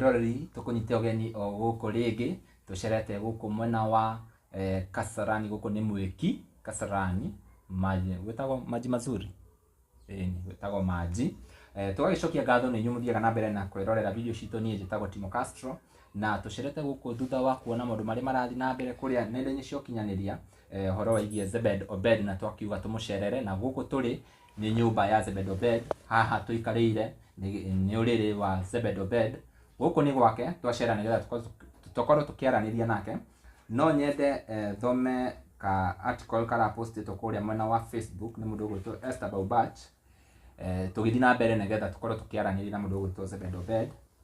Roreri tũkũnyite ũgeni o gũkũ rĩngĩ, tũcerete gũkũ mwena wa eh, Kasarani, gũkũ nĩ Mwĩki, Kasarani, maji, gwĩtagwo maji mazuri ĩni gwĩtagwo manji eh, tũgagĩcokia ngatho nĩ inyuĩ mũthiaga na mbere na kwĩrorera video citũ niĩ njĩtagwo Timo Castro na tũcerete gũkũ thutha wa kuona maũndũ marĩa marathiĩ na mbere kũrĩa nenda-inĩ cia ũkinyanĩria eh, ũhoro waigie Zebed Obed na twakiuga tũmũcerere na gũkũ tũrĩ Nĩ nyũmba ya Zebedobed, haha tũikarĩire nĩ ũrĩrĩ wa Zebedobed. Gũkũ nĩ gwake twacera nĩgetha tũkorwo tũkĩaranĩria nake. No nyende thome ka article kara post ĩtwo kũrĩa mwena wa Facebook nĩ mũndũ ũgwĩtwo Esther Baubach, tũgĩthiĩ na mbere nĩgetha tũkorwo tũkĩaranĩria na mũndũ ũgwĩtwo Zebedobed.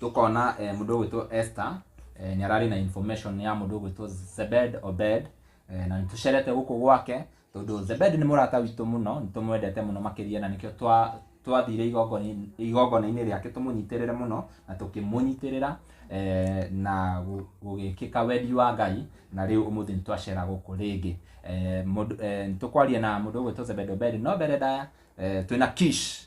tũkona eh, mũndũ ũgwĩtwo Esther eh, nĩ ararĩ na information ya mũndũ ũgwĩtwo Zebed Obed eh, na nĩ tũcerete gũkũ gwake tondũ Zebed nĩ mũrata witũ mũno nĩ tũmwendete mũno makĩria na nĩkĩo twa twathire igongona-inĩ- igongona-inĩ rĩake tũmũnyitĩrĩre mũno na tũkĩmũnyitĩrĩra eh, na gũ- gũgĩkĩka wendi wa ngai na rĩu ũmũthĩ nĩ twacera gũkũ rĩngĩ Eh, mũndũ- eh, nĩ tũkwaria na mũndũ ũgwĩtwo Zebed Obed no mbere ndaya eh, twĩna kish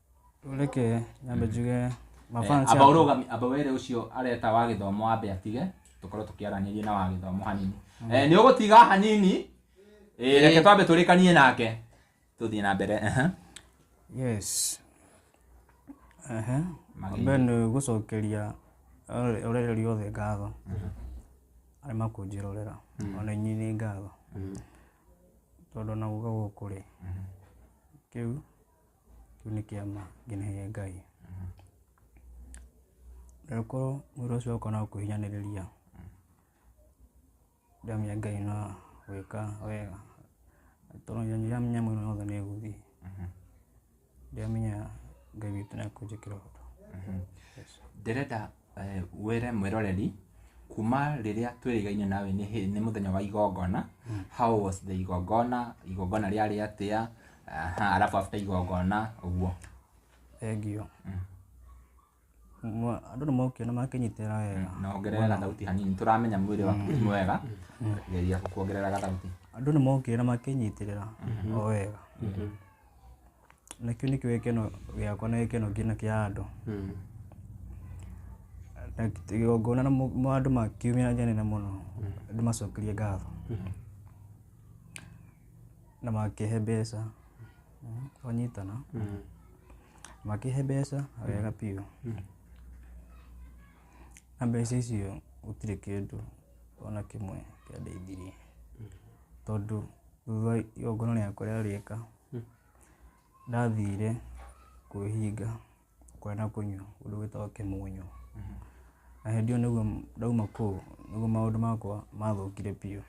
reke nyambe njuge mafans amba akwa. ũrũgami amba were ũcio areta wa gĩthomo ambe atige tũkorwo tũkĩaranĩria na wa gĩthomo hanini Eh, nĩ ũgũtiga hanini Eh, reke twambe tũrĩkanie nake tũthiĩ na mbere aha. yes Ehe. Magĩrĩire. mbere nĩ gũcokeria ũre- ũrereri othe ngatho arĩa makũnjĩrorera ona inyuĩ nĩ ngatho tondũ ona guka gũkũ rĩ kĩu kĩu nĩ kĩama nginagĩria ngai rĩkorwo wĩra ũcio oka no kũhinyanĩrĩria ndamenya ngai no gwĩka wega tondũ ndiramenya mwĩra wothe nĩ gũthiĩ ndiramenya ngai witũ nĩ akũnjĩkĩra ũndũ Yes. ndĩrenda wĩre mwĩroreri kuma rĩrĩa twĩrĩgaine nawe nĩ hĩ- nĩ mũthenya wa igongona how was the igongona igongona rĩarĩ atĩa aha, arabu after igongona ũguo thengio Mwa- andũ nĩ mokire na makĩnyitĩra wega na ongerera gathauti hanini tũramenya mwĩrĩ waku ti mwega geria kuongerera gathauti andũ nĩ mokire na makĩnyitĩrĩra o wega na kĩu nĩkĩo gĩkeno gĩakwa na gĩkeno kĩna kĩa andũ na igongona na mo- mo andũ makiumia na njĩra nene mũno andũ macokerie ngatho na makĩhe mbeca Mm, wanyitana makĩhe mbeca wega biũ na mbeca icio gũtirĩ kĩndũ ona kĩmwe kĩandeithirie tondũ thutha wa igongona rĩakwa rĩarĩka Ndathire kwĩhinga kũrĩa na kũnyua ũndũ wĩtagwo kĩmũnyũ. Na hĩndĩ ĩyo nĩguo ndauma kũu nĩguo maũndũ makwa mathũkire biũ.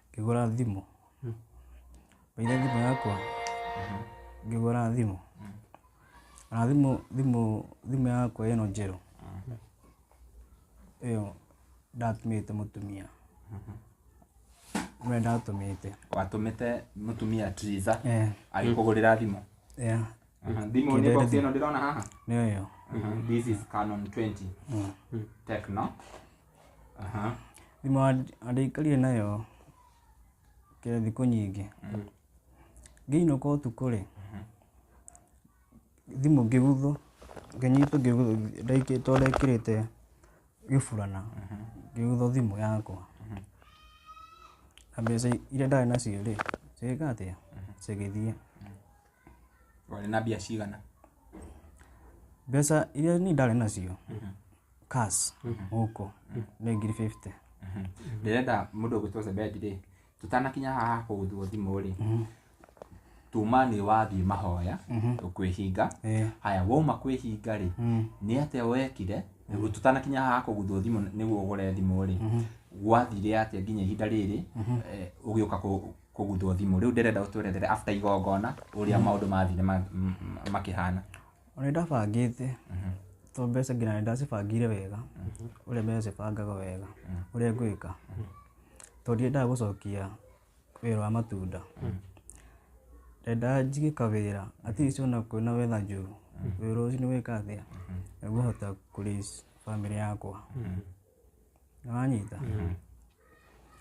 Ngĩgũra thimũ, ngĩiga thimũ yakwa, ngĩgũra thimũ, na thimũ thimũ thimũ yakwa ĩno njerũ, ĩyo ndatũmĩte mũtumia. we ndatũmĩte watũmĩte mũtumia Triza Eh, agĩkũgũrĩra thimũ yeah, Aha, thimũ nĩ box ĩno ndĩrona haha nĩyo ĩyo Aha, this is Canon 20 Mm. Tecno Aha, thimũ andĩikarire nayo kĩrĩa thikũ nyingĩ ngĩinũka ũtukũ-rĩ thimũ ngĩguthwo ngĩnyitwo ngĩguthwo ndaikĩ- tondũ ndekĩrĩte gĩburana ngĩgũtha thimũ yakwa na mbeca iria ndarĩ nacio rĩ cigĩka atĩa cigĩthiĩ Warĩ na mbia cigana? mbeca iria niĩ ndarĩ nacio cash gũkũ nĩ ngiri 50 Ndĩrenda mũndũ ũgũtwo Zebedi rĩ, tũtanakinya haha kũgũthwo thimũ rĩ, tuma nĩ wathiĩ mahoya Mhm. ũkwĩhinga Eh. haya wauma kwĩhinga rĩ Mm. nĩ atĩa wekire nĩguo tũtanakinya haha kũguthwo thimũ nĩguo ũgũre thimũ rĩ Mhm. gwathire atĩa nginya ihinda rĩrĩ eh, ũgĩũka kũ- kũguthwo thimũ rĩu ndĩrenda ũtwerethere after igongona ũrĩa maũndũ mathire ma- m- m- makĩhana Ona nĩ ndabangĩte to mbeca nginya nĩ ndacibangire wega ũrĩa mbeca cibangaga wega ũrĩa ngwĩka tondũ ndiendaga gũcokia wĩra wa matunda ndendaga njige kawĩra at least ona kwĩna wetha njũru wĩra ũcio nĩ wĩka atĩa nĩguhota kũraise family yakwa nĩwanyita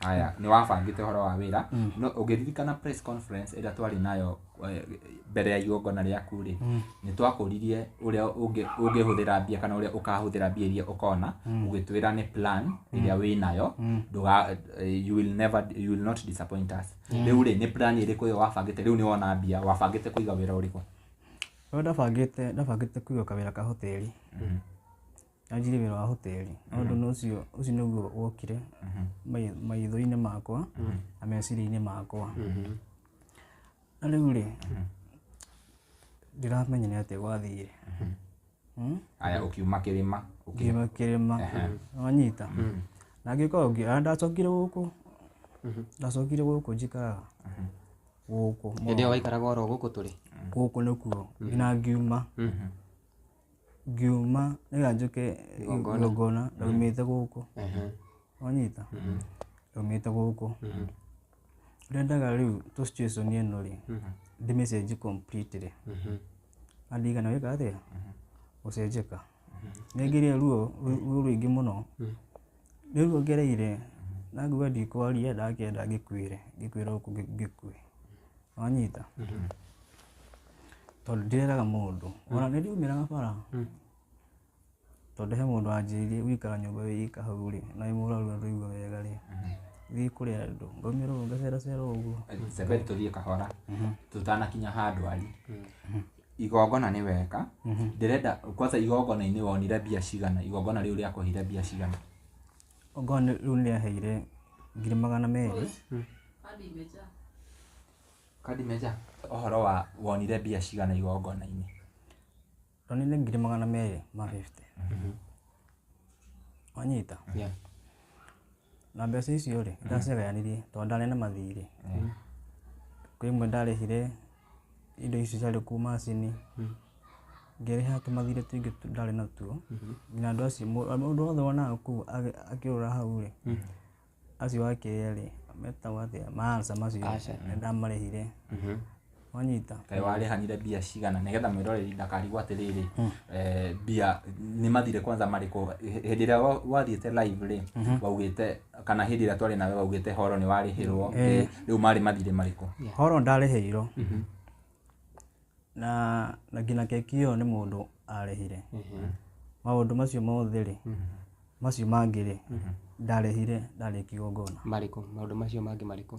aya nĩ wabangĩte ũhoro wa wĩra no ũngĩririkana press conference ĩrĩa twarĩ nayo eh, mbere ya igongona rĩaku rĩ Mm. nĩ twakũririe ũrĩa ũngĩ- ũngĩhũthĩra mbia kana ũrĩa ũkahũthĩra mbia iria ũkona Mm. ũgĩtwĩra nĩ plan ĩrĩa wĩ nayo Mm. ndũga eh, you will never you will not disappoint us rĩu rĩ nĩ plan ĩrĩkũ ĩyo wabangĩte rĩu nĩ wona mbia wabangĩte kũiga wĩra ũrĩkũ Rĩu ndabangĩte ndabangĩte kũiga kawĩra ka hoteli yanjire wĩra wa hoteli na ũndũ na ũcio ũcio nĩguo wokire mai- maitho-inĩ makwa na meciria-inĩ makwa na rĩu rĩ ndiramenya nĩ atĩa gwathiire Mm? aya ũkiuma kĩrĩma ũki- ngiuma kĩrĩma wanyita na ngĩkorwo ngĩra ndacokire gũkũ ndacokire gũkũ njikaraga gũkũ hĩndĩ ĩyo waikaraga oro gũkũ tũrĩ gũkũ nĩkuo nginya ngiuma ngiuma rĩrĩa njũke Igongona. igongona ndaumĩte gũkũ Ehe. wanyita ndaumĩte gũkũ ndendaga rĩu tũ situation ĩno rĩ ndĩmĩcenji completely Mhm. andigana wĩka atĩa gũcenjeka nĩngĩrĩa ruo ru- ruo rũingĩ mũno Rĩu ongereire, ndakuga ndikwaria, ndakĩenda ngĩkuĩre, ngĩkuĩre gũkũ ngĩkue. Wanyita? Tondũ ndĩreraga mũndũ. Ona nĩ ndiumĩraga bara. Tondũ he mũndũ wanjĩrire gũikara nyũmba wĩ ika hau rĩ, na wĩ mũrwaru na ndũraigua wega rĩ, thiĩ kũrĩ andũ. Ngaumĩra ũguo ngaceracera ũguo. Reke tũthiĩ kahora tũtanakinya ha ndwari. igongona nĩ weka ndĩrenda kwanza igongona-inĩ wonire mbia cigana igongona rĩu rĩakũheire mbia cigana Okorwo nĩ- rĩu nĩrĩaheire ngiri magana merĩ kandi meja ũhoro wa wonire mbia cigana igongona-inĩ ronire ngiri magana merĩ ma 50 wanyita Yeah. Na mbeca icio rĩ, ndacigayanirie tondũ ndarĩ na mathirĩ. Kwĩ imwe ndarĩhire indo icio ciarĩ kũu macini, ngĩrĩha tũmathirĩ tũingĩ ndarĩ natuo. Nginya andũ acio, mũndũ wothe wonaga kũu akĩũrũra hau rĩ, acio ake erĩ, metagwo atĩa, ma Alsa macio, nĩ ndamarĩhire. wanyita kaĩ warĩhanire mbia cigana nĩgetha mwĩroreri ndakarigwo atĩrĩrĩ eh, mbia nĩ mathire kwanza marĩkũ Hĩ- hĩndĩ ĩrĩa wa- wathiĩte live rĩ waugĩte kana hĩndĩ ĩrĩa twarĩ nawe waugĩte horo nĩ warĩhĩrwo Ĩ, rĩu marĩ mathire marĩkũ horo ndarĩhĩirwo na na nginya keki ĩyo nĩ mũndũ arĩhire maũndũ macio mothe rĩ macio mangĩ rĩ ndarĩhire ndarĩ kigongona marĩkũ maũndũ macio mangĩ marĩkũ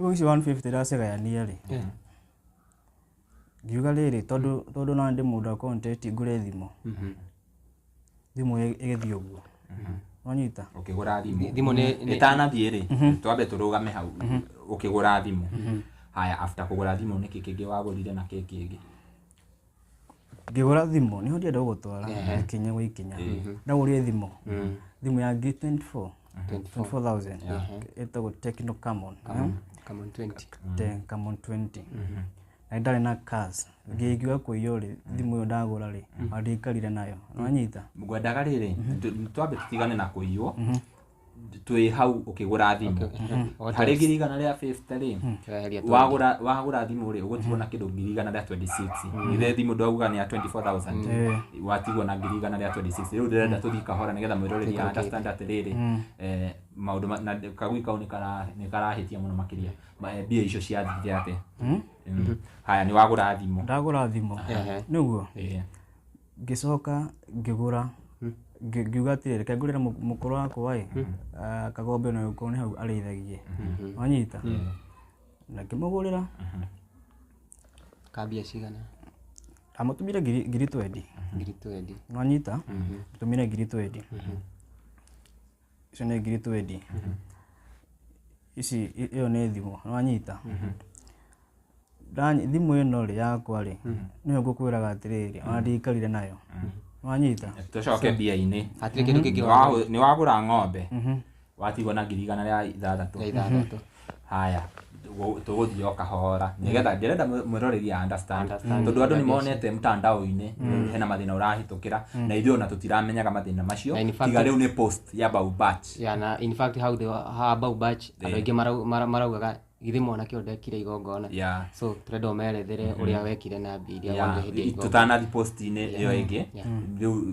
Rĩu ici 150 ndacigayania rĩ Eh. ngiuga rĩrĩ tondũ tondũ na ndĩ mũndũ wa content ngũre thimũ thimũ ĩ- ĩgĩthiĩ ũguo wanyita ũkĩgũra thimũ Thimũ nĩ- nĩ- ĩtanathiĩ rĩ twambe tũrũgame hau ũkĩgũra thimũ haya after kũgũra thimũ nĩkĩ kĩngĩ wagũrire na kĩ kĩngĩ ngĩgũra thimũ nĩho ndĩenda gũgũtwara ikinya gwa ikinya ndagũrire thimũ thimũ ya ngiri 24 24000 ĩtagwo Tecno Camon eh? Come on 20. Te- Camon 20 na nĩ ndarĩ na cars ngĩkiuga kũiywo rĩ thimũ ĩyo ndagũra rĩ andĩkarire nayo nanyita Ngwendaga rĩrĩ, tũ- twambe tũtigane na kũiywo. twĩ hau ũkĩgũra thimũ What harĩ else? ngiri igana rĩa 50 rĩ Tũreheria twenty. wagũra wagũra thimũ rĩ ũgũtigwo na kĩndũ ngiri igana rĩa 26 ithe thimũ ndwauga nĩ ya 24000 watigwo na ngiri igana rĩa 26 rĩu ndĩrenda tũthiĩ kahora nĩgetha mwĩroreri ya understand atĩrĩrĩ eh, maũndũ ma- na kagui kau nĩkara- nĩkarahĩtia mũno makĩria Ma- eh, mbia icio ciathire atĩa Mm. haya nĩ wagũra thimũ ndagũra thimũ Ehe. nĩguo Eh, ngĩcoka ngĩgũra ngi- ngiuga atĩrĩrĩ reke ngũrĩre mũ- mũkũrũ wakwa ĩ ah, kagombe na ũkorwo nĩ hau arĩithagie wanyita na ngĩmũgũrĩra kambia cigana amũtũmire ngiri ngiri twendi ngiri twendi wanyita mũtũmire ngiri twendi icio nĩ ngiri twendi ici i- ĩyo nĩ thimũ nĩwanyita Ndany- thimũ ĩno rĩ yakwa rĩ nĩyo ngũkwĩraga atĩrĩrĩ ona ndiikarire nayo nĩwanyita tũcoke mbia-inĩ hatirĩ kĩndũ kĩngĩ Nĩwagu- nĩwagũra ng'ombe watigwo na ngiri igana rĩa ithathatũ ya ithathatũ Haya, gũ- tũgũthiĩ o kahora nĩgetha ndĩrenda mwĩ- mwĩroreri a understand Understand. tondũ andũ nĩ monete mtandao-inĩ hena mathĩna ũrahĩtũkĩra na ithuĩ ona tũtiramenyaga mathĩna macio Na in fact- tiga rĩu nĩ post ya bau batch ya na in fact how they were- ha bau batch andå aingä marau- mara- maraugaga githä mwanake å ndekire igongona Yeah. so tå renda å merethere å rä a wekire na mbia iria Yeah, wonire hä ndä ya igongona tũtanathiĩ post-inĩ ĩyo ĩngĩ rĩu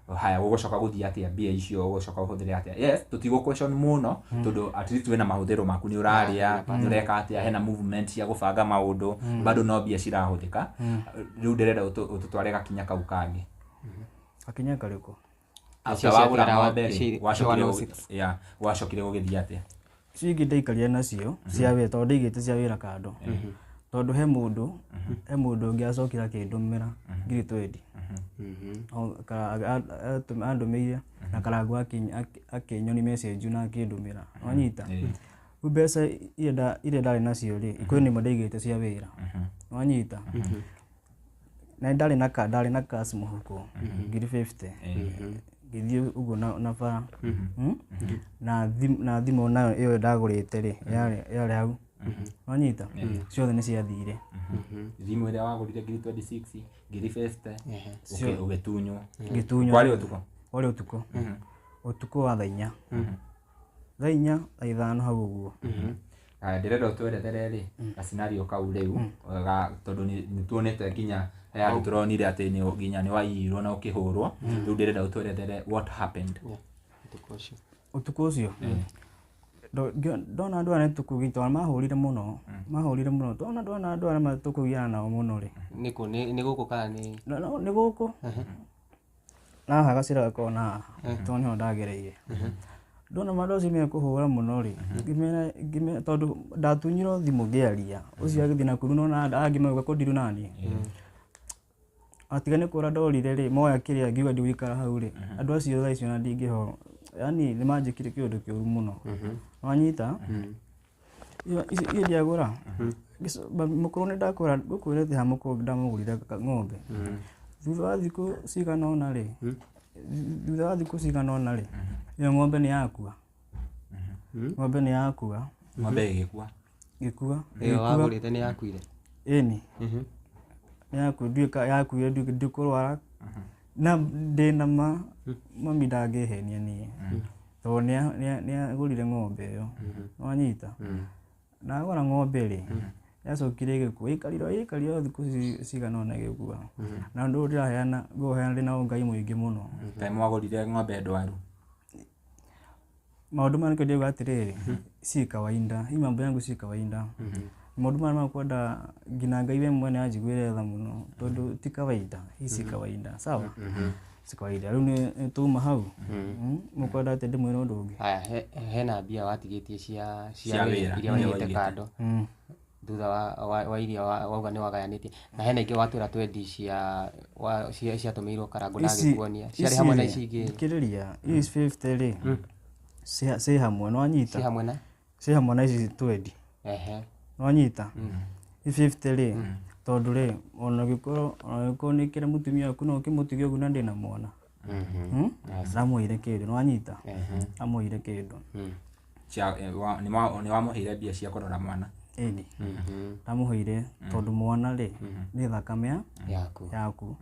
haya gũgũcoka gũthiĩ atĩa mbia icio gũgũcoka ũhũthĩre atĩa yes tũtigũ question mũno tondũ at least wĩna mahũthĩro maku nĩ ũrarĩa nĩ ũreka atĩa hena movement cia gũbanga maũndũ bado no mbia cirahũthĩka rĩu ndĩrenda ũtũ- ũtũtware gakinya kau kangĩ gakinya karĩkũ after Icio cia wagũra kĩrawa- ng'ombe rĩ ici- icio wacokire 106. gũ- yeah, wacokire gũgĩthiĩ atĩa icio ingĩ ndaikaria nacio cia wĩra tondũ ndaigĩte cia wĩra kando tondũ he mũndũ he mũndũ ũngĩ acokire akĩndũmĩra ngiri twendi andũmĩire na karangu akĩ- akĩ- akĩnyoni message na akĩndũmĩra wanyita rĩu mbeca iria nda- iria ndarĩ nacio rĩ kwĩ nĩmo ndaigĩte cia wĩra wanyita na nĩ ndarĩ na ka ndarĩ na cash mũhuko ngiri 50 ngĩthiĩ ũguo na na bara Mm? na thim- na thimũ nayo ĩyo ndagũrĩte rĩ yarĩ yarĩ hau wanyita ciothe nĩ ciathire thimũ ĩrĩa wagũrire ngiri 26 ngiri 50 ũkĩ- ũgĩtunywo Ngĩtunywo. kwarĩ ũtukũ warĩ ũtukũ ũtukũ wa thaa inya thaa inya na ithano hau ũguo Ah, ndĩrenda ũtwerethere rĩ gacinari kau rĩu ga- tondũ nĩ- nĩ tuonete nginya he andũ tũronire atĩ nĩ- nginya nĩ waiyirwo na ũkĩhũrwo rĩu ndĩrenda ũtwerethere what happened Ũtukũ ũcio. ũtukũ ũcio Ndo- ngĩ- ndona andũ arĩa tũkũgi tondũ mahũrire mũno mahũrire mũno tona ndona andũ arĩa tũkũgiana nao mũno rĩ Nĩ kũ? Nĩ nĩ gũkũ kana nĩ no, no, nĩ gũkũ haha gacĩra gakoragwo na tondũ nĩho ndagereire ndona andũ acio me kũhũra mũno rĩ ngĩmera ngĩmera tondũ ndatunyirwo thimũ ngĩaria ũcio agĩthiĩ na kuru nona angĩ mauga ko ndirĩ naniĩ atiga nĩ kũra ndorire rĩ moya kĩrĩa ngiuga ndigũikara hau rĩ andũ acio thaa icio ona ndingĩhorwo yani nĩ manjĩkire kĩũndũ kĩũru mũno wanyita Iyo- ici- iyo ndiagũra Gĩco- ba- mũkũrũ nĩ ndakũra ngũkwĩra thĩ ha mũkũrũ ndamũgũrire ka- ng'ombe thutha wa thikũ cigana ũna rĩ thu- thutha wa thikũ cigana ũna rĩ ĩyo ng'ombe nĩ yakua ng'ombe nĩ yakua ng'ombe ĩgĩkua gĩkua ĩyo wagũrĩte nĩ yakuire ĩni nĩ yakua nduĩka yakuire nduĩka ndikũrwara na ndĩna ma mami ndangĩhenia niĩ tondũ nĩa- nĩa- nĩagũrire ng'ombe ĩyo wanyita na agũra ng'ombe rĩ yacokire ĩgĩkua ĩkarira ĩkarira o thikũ ci- cigana ona ĩgĩkua na ũndũ ũyũ ndĩraheana ngũheana ndĩ na ũngai mũingĩ mũno time mwagũrire ng'ombe ndwaru maũndũ maya nĩkĩo ndĩuga atĩrĩrĩ si kawaida hii mambo yangu si kawaida maũndũ maya makwenda nginya ngai we mwene anjiguĩre tha mũno tondũ ti kawaida hii si kawaida sawa si kawaida rĩu nĩ- nĩ tuma hau Mm, mũkwenda atĩ ndĩmwĩra ũndũ ũngĩ haya he- hena mbia watigĩtie cia Cia cia wĩra wĩra, iria iria waigĩte waigĩte. kando Mm. thutha wa- wa wa iria wa- wauga nĩ wagayanĩtie na hena ingĩ watwĩra twendi cia wa- cia- ciatũmĩirwo karango na Ici- agĩkuonia ciarĩ ici hamwe na rĩ, ici ingĩ thikĩrĩria ici 50 rĩ ciĩ- ciĩ hamwe nĩ wanyita ci hamwe na ciĩ hamwe na ici twendi Ehe. nĩwanyita i 50 rĩ tondũ rĩ ona gĩkorwo ona gĩkorwo nĩ kĩrĩ mũtumia waku no ũkĩmũtige ũguo na ndĩ na mwana Mhm. amũire kĩndũ nĩwanyita Ehe. amũire kĩndũ Mm. Cia- eh, wa- nĩ wa- nĩ wamũheire mbia cia kũrora mwana ĩni Mhm. ndamũheire tondũ mwana rĩ nĩ thakame ya- yaku yaku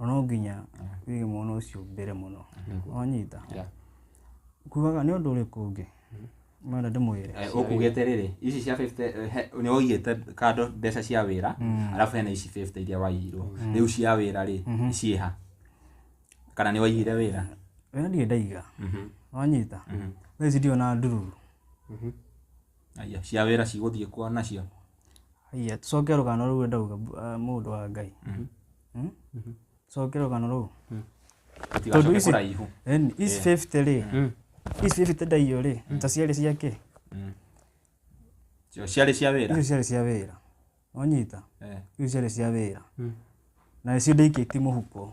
na no nginya wige mwana ũcio mbere mũno wanyita Yeah. kugaga nĩ ũndũ ũrĩkũ ũngĩ mwenda ndĩmwĩre Eh, ũkugĩte rĩrĩ ici cia 50 eh, he- nĩ waigĩte kando mbeca cia wĩra arabu hena ici 50 iria waigirwo rĩu cia wĩra rĩ ciĩha kana nĩ waigire wĩra wĩra ndirĩ ndaiga wanyita thaa ici ndio na ndururu Aya, cia wĩra cigũthiĩ kwa nacio haiya tũcoke rũgano rũu ndauga bu- ah, mũndũ wa ngai Hmm? coke rũgano rũu Tondũ tũtigacoke ici- kũraihu Ĩni, ici 50 rĩ ici 50 ndaiyũ rĩ ta ciarĩ cia kĩ Cio ciarĩ cia wĩra icio ciarĩ cia wĩra wanyita Eh, icio ciarĩ cia wĩra na nĩcio ndaikĩtie mũhuko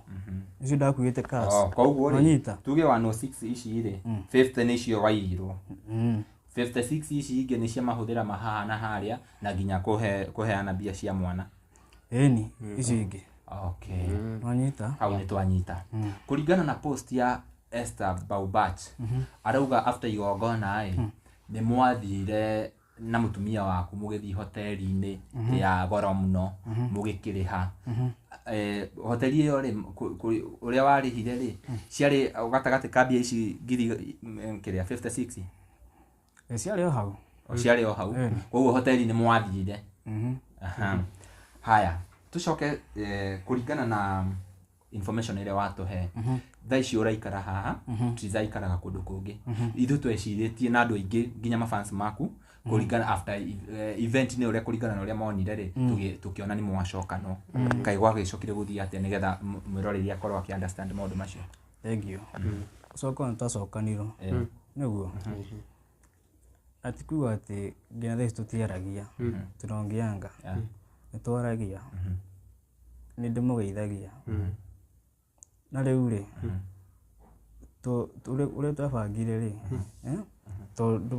nĩcio ndakuĩte kas oh, koguo rĩ wanyita tuge 106 ici rĩ 50 nĩ cio waiyirwo Mm. 56 ici ingĩ nĩ cia mahũthĩra mahaha na harĩa na nginya kũhe- kũheana mbia cia mwana ĩni icio ingĩ okay wanyita hau nĩ twanyita kũringana na post ya Esther Baubach arauga after igongona ĩ nĩ mwathire na mũtumia waku mũgĩthiĩ hoteli-inĩ ya goro mũno mũgĩkĩrĩha Eh, hoteli ĩyo rĩ kũ- kũ- ũrĩa warĩhire rĩ ciarĩ gatagatĩ ka mbia ici ngiri mm, kĩrĩa 56 Eh, ciarĩ o hau O ciarĩ o hau Eh. koguo hoteli nĩ mwathire Mhm. Aha. haya tũcoke eh, kũringana na information ĩrĩa watũhe Mhm. thaa ici ũraikara haha Mhm. tithaikaraga kũndũ kũngĩ Mhm. ithu twecirĩtie na andũ aingĩ nginya mafans maku kũringana after eh, event nĩ ũrĩa kũringana na ũrĩa monire rĩ Mm. tũgĩ- tũkĩona nĩ mwacokano kaĩ gwagĩcokire gũthiĩ atĩa nĩgetha m- mwĩroreri akorwo akĩ understand maũndũ macio Thengiũ. Gũcoka nĩ twacokanirwo. Nĩguo? Na ti kuga atĩ nginya thaa ici tũtiaragia. Tunaongeanga. Nĩ twaragia. Nĩ ndĩmũgeithagia. Na rĩu rĩ, tũ- tũrĩ- ũrĩa twabangire rĩ, eh, tondũ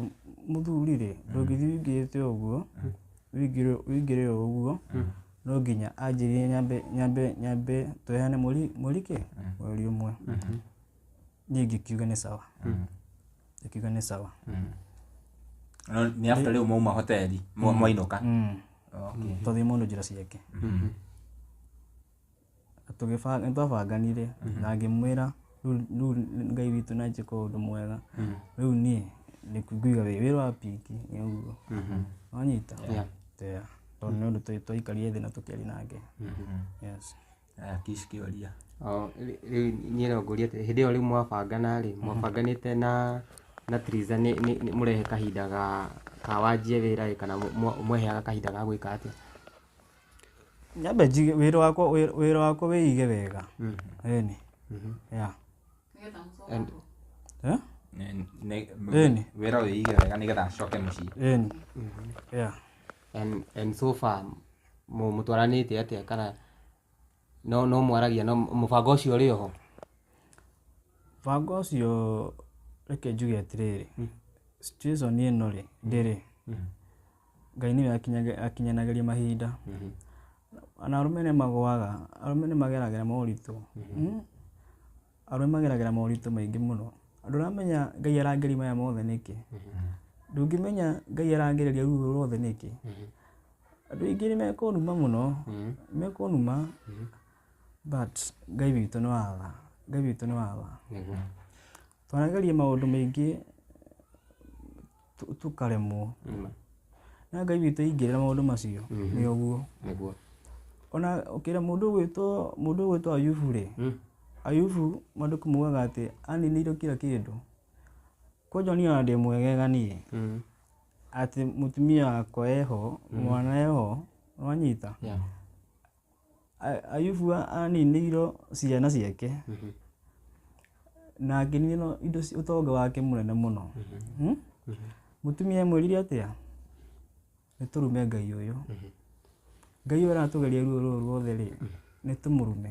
mũthuri rĩ, ndũngĩthiĩ ũingĩrĩte ũguo, ũingĩre ũingĩre ũguo, no nginya anjĩrie nyambe nyambe nyambe tũheane mũri mũri kĩ mũri ũmwe niĩ ngĩkiuga nĩ sawa ngĩkiuga nĩ sawa No, nĩ after rĩu mauma hoteli mwa- mwainũka Mm. Okay. tondũ mũndũ njĩra ciake tũgĩbanga nĩ twabanganire na ngĩmwĩra rĩu rĩu ngai witũ nĩ anjĩka ũndũ mwega rĩu niĩ nĩ kũiga wĩ wĩra wa pinki nĩ ũguo wanyita Yeah. Yeah. tondũ nĩ ũndũ twa- twaikarire thĩ na tũkĩaria nake yes Aya, kish kĩoria O, rĩ- rĩu niĩ no ngũrie atĩ hĩndĩ ĩyo rĩu mwabangana rĩ mwabanganĩte na na Triza nĩ nĩ- nĩ mũrehe kahinda ga ka wanjie wĩra ĩ kana mwe- mweheaga kahinda ga gwĩka atĩa Nyambe njige wĩra wakwa wĩ- wĩra wakwa wĩige wega ĩni ya And- Eh? Ne- ne- Ĩni. wĩra ũyĩige wega nĩgetha acoke mũciĩ ĩni ya and, and so far mu- mũtwaranĩte atĩa kana No no mwaragia no mũbango ũcio ũrĩ oho. Mũbango ũcio reke njuge atĩrĩrĩ, situation ĩno rĩ, ndĩrĩ, Ngai nĩwe akinyaga- akinyanagĩria mahinda. Ona arũme nĩ magũaga, arũme nĩ mageragĩra moritũ. Arũme mageragĩra moritũ maingĩ mũno. Andũ aramenya Ngai arageria maya mothe nĩkĩ? Ndũngĩmenya Ngai aragereria ruru rũrũ rwothe nĩkĩ? Andũ aingĩ nĩ mekũnuma mũno, mekũnuma but Ngai witũ nĩ wa tha, Ngai witũ nĩ wa tha. Twanageria maũndũ maingĩ tu- tukaremwo Mm. na ngai witũ ingĩrĩra maũndũ macio nĩ ũguo Nĩguo. ona ũkĩra mũndũ ũgwĩtwo mũndũ ũgwĩtwo ayubu rĩ Mm. ayubu maandĩko mugaga atĩ aninĩirwo kira kĩndũ kwanja niĩ ona ndĩ mwegega niĩ Mm. atĩ mũtumia wakwa eho mwana eho wanyita Yeah. A- ayubu a- aninĩirwo ciana ciake na akĩninĩrwo indo ci- ũtonga wake mũnene mũno Hmm? mũtumia amwĩrire atĩa nĩ tũrume ngai ũyũ ngai ũyũ aratũgeria ruo rũrũ ruothe rĩ nĩ tũmũrume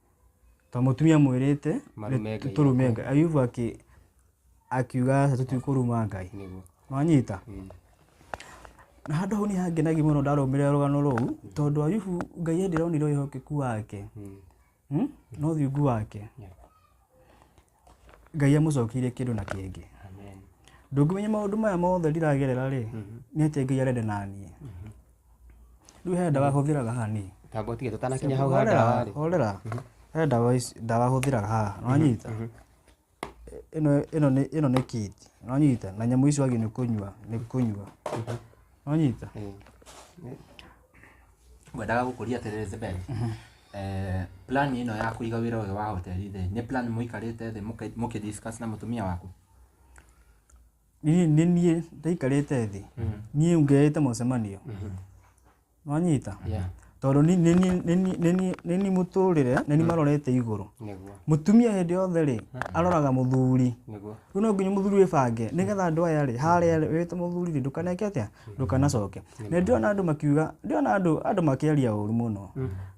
ta mũtumia mwĩrĩte Marume Ngai tũrume ngai ayubu akĩ akiuga aca tũtikũruma ngai nĩguo wanyita na handũ hau nĩ hangenagia mũno ndarũmĩrĩra rũgano rũu tondũ ayubu ngai endironire ũhokeku wake Hmm? no thiungu wake Yeah. Ngai amũcokeirie kĩndũ na kĩngĩ. Amen. Ndũngĩmenya maũndũ maya mothe ndiragerera rĩ, nĩ atĩa Ngai arenda na niĩ. Rĩu he ndawa hũthĩraga haha nĩ. Tambo tige tũtanakinya hau ha ndawa Horera, rĩ. horera. He ndawa ici- ndawa hũthĩraga haha, nĩwanyita? Ĩno ĩno nĩ ĩno nĩ kiti, nĩwanyita? Na nyamũ ici wagi nĩ kũnyua, nĩ kũnyua. Nĩwanyita? Eh, ngwendaga gũkũria atĩrĩrĩ Zebel, eh, plan ĩno ya kũiga wĩra ũyũ wa hoteli thĩ nĩ plan mũikarĩte thĩ mũkĩ- mũkĩ discuss na mũtumia waku niĩ nĩ niĩ ndaikarĩte thĩ niĩ ngeyĩte mũcemanio wanyita Yeah. tondũ ni- nĩ niĩ- nĩ niĩ- nĩ niĩ- nĩ niĩ mũtũrĩre nĩ niĩ marorete igũrũ nĩguo mũtumia hĩndĩ yothe rĩ aroraga mũthuri nĩguo rĩu no nginya mũthuri wĩbange nĩgetha andũ aya rĩ harĩa rĩ wĩte mũthuri rĩ ndũkaneke atĩa ndũkanacoke nä ndona andå makiuga ndona andå andå makäaria å ru må no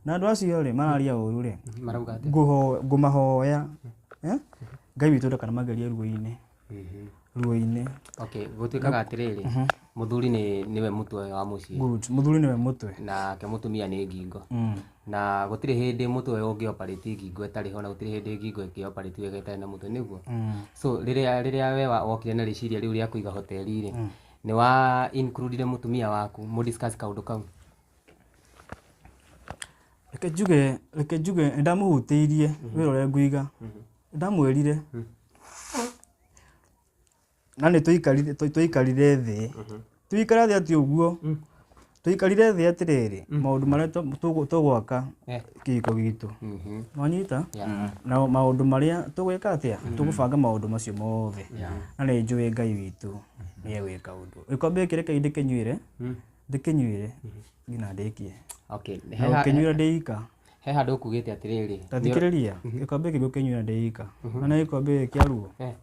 na andå acio rä mararia å ru rä marauga atĩ ngå mahoya eh? ngai witå ndakanamagerie ruo-inä ruo-inä okay gũtuĩkaga atĩrĩrĩ mũthuri nĩ nĩwe mũtwe wa mũciĩ må thuri nä we må twe nake mũtumia nĩ ngingo Mm. na gũtirĩ hĩndĩ mũtwe ũyũ ũngĩ operate ngingo ĩtarĩ ho na gũtirĩ hĩndĩ ngingo ĩngĩ operate wega ĩtarĩ na mũtwe nĩguo Mm. so rĩrĩa rĩrĩa we wa- wokire na rĩciria rĩu rĩa kũiga hoteli-rĩ Nĩ wa includire mũtumia waku mũ discuss kaũndũ kau? reke njuge reke njuge nĩ ndamũhutĩirie wĩra ũrĩa ngũiga Nĩ ndamwĩrire na nĩ twaikarire twaikarire thĩ tũikare thĩ atĩ ũguo tũikarire thĩ atĩrĩrĩ maũndũ marĩa tũ- tũgũ- tũgwaka Eh. kĩhiko gitũ Mhm. wanyita Yeah. na maũndũ marĩa tũgwĩka atĩa tũgũbanga maũndũ macio mothe na nĩ njũĩ ngai witũ nĩ egwĩka ũndũ gĩkombe gĩkĩ reke ndĩkĩnyuĩre Mm. ndĩkĩnyuĩre nginya ndĩkie Okay. na He ha- gũkĩnyuĩra ndĩika he handũ ũkugĩte atĩrĩrĩ. tathikĩrĩria gĩkombe gĩkĩ gũkĩnyuĩra ndĩika na nĩ gĩkombe gĩkĩ kĩa ruo Eh.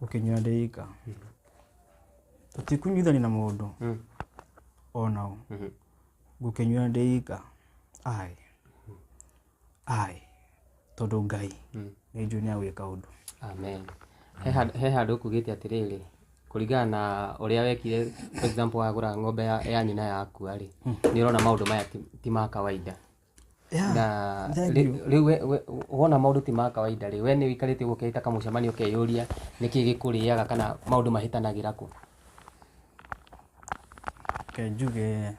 gũkinyũra ndĩ ika tũtikũnyuithania na mũndũ Mm. onaũ Mhm. ngũkĩnyuĩra ndĩ ika ai ai tondũ ngai Mm. nĩ njũĩ nĩ agwĩka ũndũ amen He hand- he handå kugäte atä rä rä kå ringana na å rä a wekire for example wagå ra ng'ombe ya, ya nyina yakua rä nä å rona maå ndå maya ti- ti ma kawaida Yeah, na thank rĩ- you. rĩu we- we- wona maũndũ ti ma kawaida rĩ we nĩ ũikarĩte ũguo ũkeita kamũcemanio ũkeyũria nĩkĩ gĩkũrĩaga kana maũndũ mahĩtanagĩra kũ Ke njuge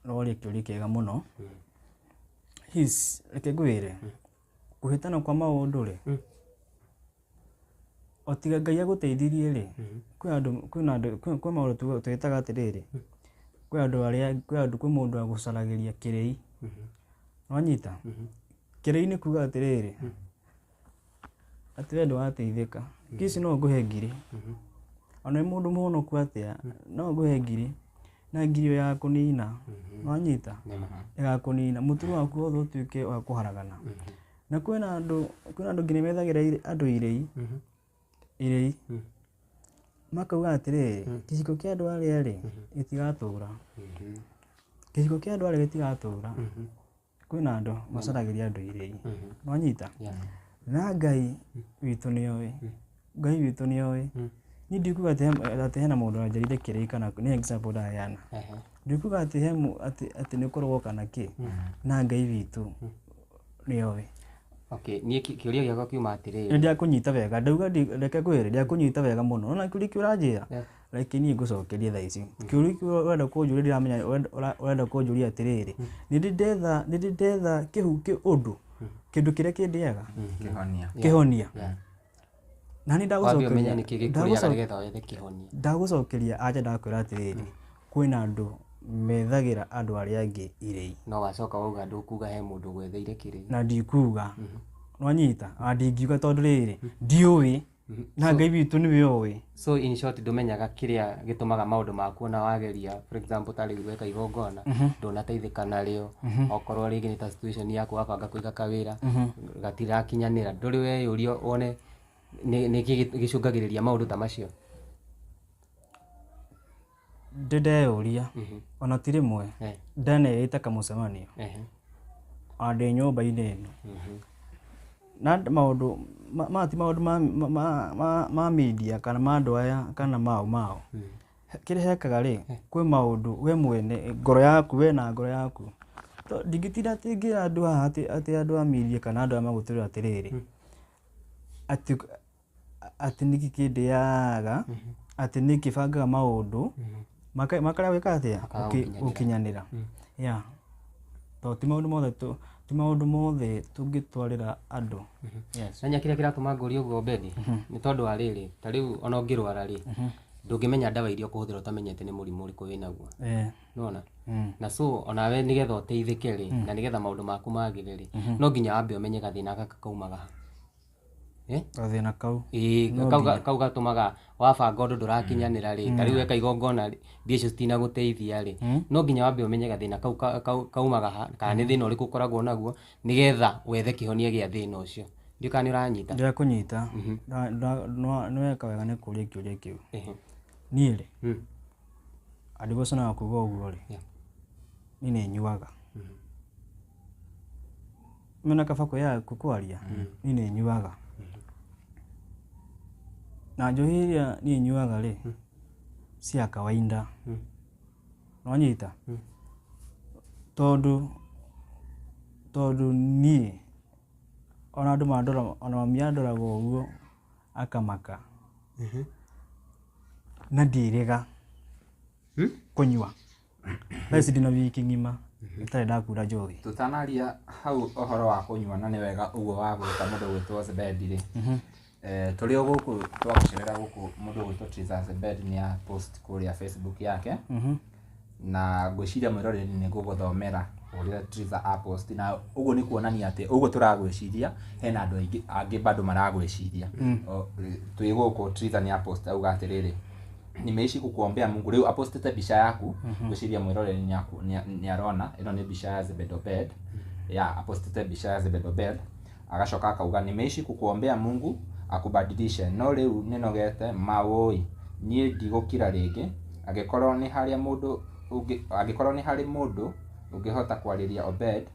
rorĩ kĩũria kĩega mũno his reke ngwĩre kũhĩtana kwa maũndũ rĩ o tiga ngai agũteithirie rĩ kwĩ andũ kwĩ na andũ kwĩ kwĩ maũndũ tuga- twĩtaga atĩrĩrĩ kwĩ andũ arĩa kwĩ andũ kwĩ mũndũ agũcaragĩria kĩrĩi wanyita kĩrĩi nĩ kuga atĩrĩrĩ atĩ we ndũrateithĩka kici no ngũhe ngiri ona wĩ mũndũ mũhonoku atĩa no ngũhe ngiri na ngiri ĩyo yakũnina wanyita ĩgakũnina mũtũrĩre waku wothe ũtuĩke wa kũharagana na kwĩna andũ kwĩna andũ nginya methagĩra irĩ- andũ irĩi Mhm. irĩi Mm. makauga atĩrĩrĩ Mm. gĩcigo kĩa andũ arĩa rĩ gĩtigatũra Mhm. gĩcigo kĩa andũ arĩa gĩtigatũra Mhm. kwĩna andũ macaragĩria andũ irĩi Mhm. nonyita Yeah. na ngai witũ nĩoĩ Ngai witũ nĩ oĩ. Niĩ ndikuga atĩ he- atĩ hena mũndũ wanjarire kĩrĩi kana nĩ example ndaheana. Ndikuga atĩ he mũ- atĩ- atĩ nĩ kũrogwo kana kĩ, na Ngai witũ nĩ oĩ. Okay, niĩ kĩ- kĩũria gĩakwa kiuma atĩrĩrĩ. Nĩ ndakũnyita wega, ndauga ndi- reke ngwĩre ndakũnyita wega mũno. Ũrona kĩũria kĩu ũranjĩra? Yeah. Reke niĩ ngũcokerie thaa ici. Kĩũria kĩu ũrenda kũnjũria ndiramenya ũrenda- ũra- ũrenda kũnjũria atĩrĩrĩ. Nĩ ndĩ ndetha, nĩ ndĩ ndetha kĩhu kĩ ũndũ, kĩndũ kĩrĩa kĩndĩaga, Kĩhonia. kĩhonia. na nĩ wambia ũmenye nĩkĩ gĩkũrĩaga ndagũcokeria nĩgetha wethe kĩhonia ndagũcokeria anja ndakwĩra atĩrĩrĩ kwĩna andũ methagĩra andũ arĩa angĩ irĩi no wacoka wauga ndũkuga he mũndũ gwetheire kĩrĩ na ndikuga nwanyita na ndingiuga tondũ rĩrĩ ndiũĩ na ngai witũ nĩwe oĩ so in short ndũmenyaga kĩrĩa gĩtũmaga maũndũ maku ona wageria for example ta rĩu weka igongona ndũnateithĩka narĩo okorwo rĩngĩ nĩ ta situation yaku wabanga kũiga kawĩra gatirakinyanĩra ndũrĩ weyũria one nĩ- nĩkĩ gĩ- gĩcũngagĩrĩria maũndũ ta macio ndĩ ndeyũria ona ti rĩmwe Eh. ndaneyĩte kamũcemanio Ehe. ona ndĩ nyũmba-inĩ ĩno na andũ- maũndũ ma- ma ti maũndũ ma- ma- ma- ma- ma media kana ma andũ aya kana mao mao kĩrĩa hekaga rĩ kwĩ maũndũ we mwene ngoro yaku we na ngoro yaku To- ndingĩtinda atĩ ngĩra andũ haha atĩ atĩ andũ a media kana andũ aya magũtũrĩra atĩrĩrĩ atĩ atĩ nĩkĩ kĩndĩaga atĩ nĩ kĩbangaga maũndũ maka- makarĩa gwĩka atĩa Gũki- Makarĩa gũkinyanĩra ya tondũ ti maũndũ mothe tũ- ti maũndũ mothe tũngĩtwarĩra andũ Yes. nanya kĩrĩa kĩratũma ngũria ũguo bethi nĩ tondũ wa rĩrĩ ta rĩu ona ũngĩrwara rĩ ndũngĩmenya ndawa iria ũkũhũthĩra ũtamenyete nĩ mũrimũ ũrĩkũ wĩnaguo Eh, nona mm. na so onawe nĩgetha ũteithĩke rĩ na nĩgetha maũndũ maku magĩre rĩ no nginya wambe ũmenye gathĩna gaka kaumaga ha Eh? gathĩna kau Ĩĩ, No kau ga- nginya. kau gatũmaga wabanga ũndũ ndũrakinyanĩra rĩ ta rĩu eka igongona rĩ mbia icio citinagũteithia rĩ Mm. no nginya wambe ũmenye gathĩna kau ka- kau- kaumaga ha kana nĩ thĩna ũrĩkũ ũkoragwo naguo nĩgetha wethe kĩhonia gĩa thĩna ũcio ndiũ kana nĩ ũranyita ndĩra kũnyita Mhm. Nda- nda- nwa- nĩweka wega nĩ kũria kĩũria kĩu Ehe. niĩ rĩ Mm. andigoco na kuga ũguo rĩ Yeah. niĩ nĩ nyuaga Mhm. mena kaba kuya kukwaria ni ni nyuaga na njohi iria ni nyuaga ri cia kawaida nonyita tondu tondu nie ona andu mandora ona mami andoraga uguo akamaka na ndirega kunyua thaa ici ndina wiki ng'ima itarĩ ndakura njohi tutanaria hau ũhoro wa kũnyua na nĩ wega ũguo wa gwĩta mũndũ gwĩtwo Zebedi rĩ eh, tũrĩ o gũkũ twagucerera gũkũ mũndũ gwĩtwo Triza Zebedi nĩ a post kũrĩa Facebook yake Mhm. na ngwĩciria mwĩroreri nĩ gũgũthomera ũrĩa Triza a post na ũguo nĩ kuonania atĩ ũguo tũragwĩciria hena andũ aingĩ angĩ bado maragwĩciria O, eh, twĩ gũkũ Triza nĩ a post auga atĩrĩrĩ nimeishi kukuombea mungu riu apostete mbica yaku gwiciria mwirore niarona ino ni mbica ya zebedobed ya apostete mbica ya zebedobed agacoka akauga nimeishi kukuombea mungu akubadilishe no riu ninogete mawoi nie ndigukira ringi angikorwo ni haria mundu ungi- angikorwo ni hari mundu ungihota kwariria obed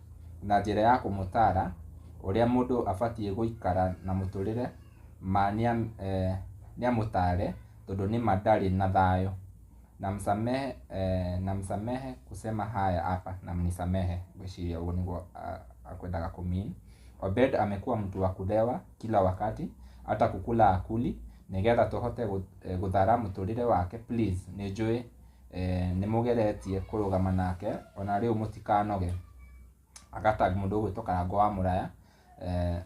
na njira ya kumutara uria mundu abatie guikara na muturire ma nia- eh, niamutare tondũ nĩma ndarĩ na thayũ namsamehe eh, namsamehe kusema haya hapa na mnisamehe ngwĩciria ũguo nĩguo ah, akwendaga kumin obed amekuwa mtu wa kulewa kila wakati hata kukula akuli nigetha tũhote gũ- eh, gũthara mũtũrĩre wake please nĩ njũĩ eh, nĩ mũgeretie kũrũgama nake ona rĩu mũtikanoge agatag mũndũ ũgwĩtwo karango wa mũraya eh,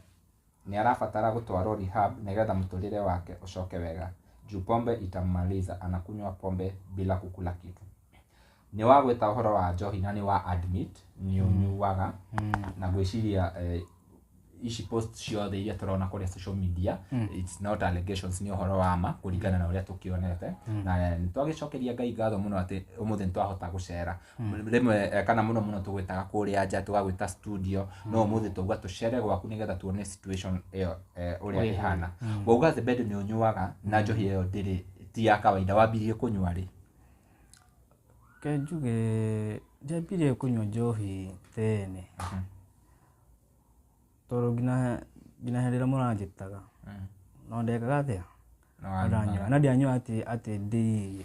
Nĩ arabatara gũtwarũo rehab nĩgetha mũtũrĩre wake ũcoke wega juu pombe itammaliza anakunywa pombe bila kukula kitu. Nĩ wa gwĩta ũhoro wa njohi na nĩ wa admit nĩ ũnyuaga na ngwĩciria eh, ici post ciothe iria tũrona kũrĩa social media it's not allegations nĩ ũhoro wa ma kũringana na ũrĩa tũkĩonete na nĩ twagĩcokeria ngai ngatho mũno atĩ ũmũthĩ nĩ twahota gũcera rĩmwe eh, kana mũno mũno tũgwĩtaga kũrĩa nja tũgagwĩta studio no ũmũthĩ twauga tũcere gwaku nĩgetha tuone situation ĩyo eh, ũrĩa Wĩha. ĩhana wauga the bed nĩ ũnyuaga na njohi ĩyo ndĩrĩ ti ya kawaida wambirie kũnyua rĩ Ke njuge njambirie kũnyua njohi tene tondũ nginya nginya hĩndĩ ĩrĩa mũranjĩtaga no ndekaga atĩa Na wanyua. ndanyua na ndianyua atĩ atĩ ndĩirie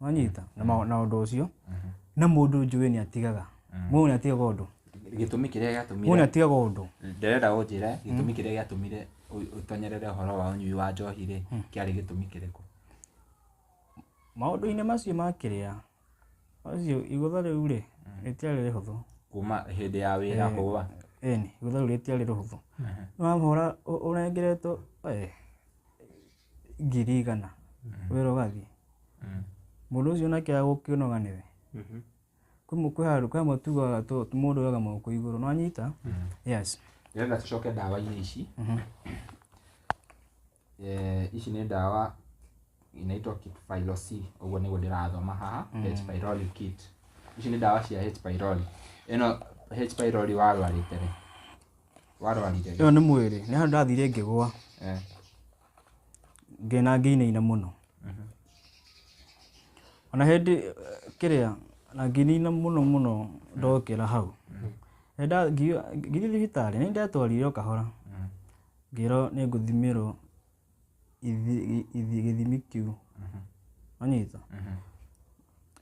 wanyita na ma- na ũndũ ũcio na mũndũ njũĩ nĩ atigaga mũndũ nĩ atigaga ũndũ gĩtũmi kĩrĩa mũndũ nĩ gĩatũmire atigaga ũndũ ndĩrenda ũnjĩre gĩtũmi kĩrĩa gĩatũmire ũ- ũtonyerere ũhoro wa ũnyui wa njohi rĩ kĩarĩ gĩtũmi kĩrĩkũ maũndũ-inĩ macio ma kĩrĩa macio igũtha rĩu rĩ rĩtiarĩ rĩhũthũ kuma hĩndĩ ya wĩra kũwa ĩni igũtha rĩu rĩtiarĩ rĩhũthũ nĩwahora ũrengeretwo eh, ngiri igana wĩra ũgathiĩ mũndũ ũcio nake agũkĩnoga nĩwe Mhm. kwĩ mũ- kwĩ handũ kwĩ amwe tugaga tũ- mũndũ oyaga moko igũrũ no anyita yes nĩgetha tũcoke ndawa-inĩ ici Eh, ici nĩ ndawa inaitwa kit phylosi ũguo nĩguo ndĩrathoma haha h pylori kit ici nĩ ndawa cia h pylori ĩno h pylori warwarĩte rĩ warwarire ĩyo nĩ mwĩrĩ nĩ handũ ndathire ngĩgwa Eh, ngĩna ngĩinaina mũno ona hĩndĩ eh, kĩrĩa na ngĩinaina mũno mũno ndokĩra hau Nĩ nda- ngi- ngithiĩ thibitarĩ nĩ ndetwarirwo kahora ngĩrwo nĩ ngũthimĩrwo gĩthimi kĩu wanyita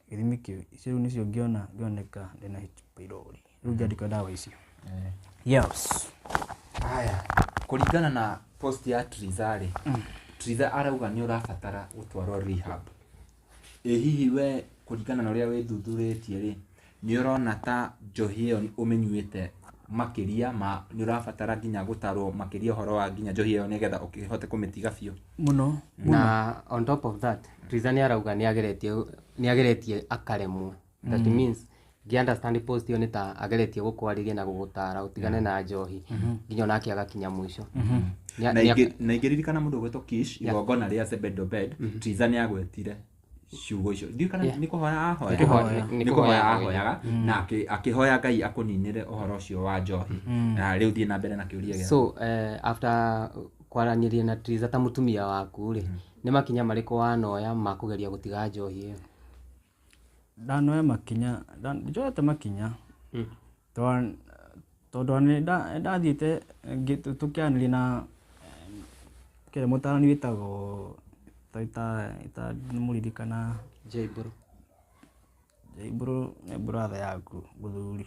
gĩthimi kĩu icio rĩu nĩcio ngĩona ngĩoneka ndĩna H pylori rĩu ngĩandĩkwo ndawa icio yes haya kũringana na post ya Triza rĩ Triza arauga nĩ ũrabatara gũtwarwo rehab Ĩ hihi we kũringana na ũrĩa wĩthuthurĩtie rĩ, nĩ ũrona ta njohi ĩyo ũmĩnyuĩte makĩria ma nĩ ũrabatara nginya gũtarwo makĩria ũhoro wa nginya njohi ĩyo nĩgetha ũkĩhote kũmĩtiga biũ? Mũno. Na on top of that, Ritha nĩ arauga nĩ ageretie, nĩ ageretie akaremwo. that mm. means ngĩunderstand post ĩyo nĩ ta ageretie gũkwarĩria na gũgũtara ũtigane na njohi mhm. nginya onake agakinya mũico mhm. na ingĩririkana mũndũ ũgwĩtwo kish igongona rĩa sebedobed mhm. tiza nĩ agwetire ciugo icio ndiũ kana nĩ kũhoya ahoyaga nĩ kũhoya ahoyaga mm. na akĩhoya ngai akũninĩre ũhoro ũcio wa njohi mm. na rĩu thiĩ na mbere na kĩũria gĩa so eh, after kwaranĩria na tiza ta mũtumia waku rĩ mm. nĩ makinya marĩkũ wanoya ma kũgeria gũtiga njohi ĩyo ndanoya makinya nda- njoete makinya Mm. Twa- tondũ ona nĩ nda- nĩ ndathiĩte ngĩ- tũ- tũkĩaranĩria na kĩrĩa mũtarani wĩtagwo ta- ta- ta- nĩ mũririkana Jaibro. Jaibro nĩ brother yaku mũthuri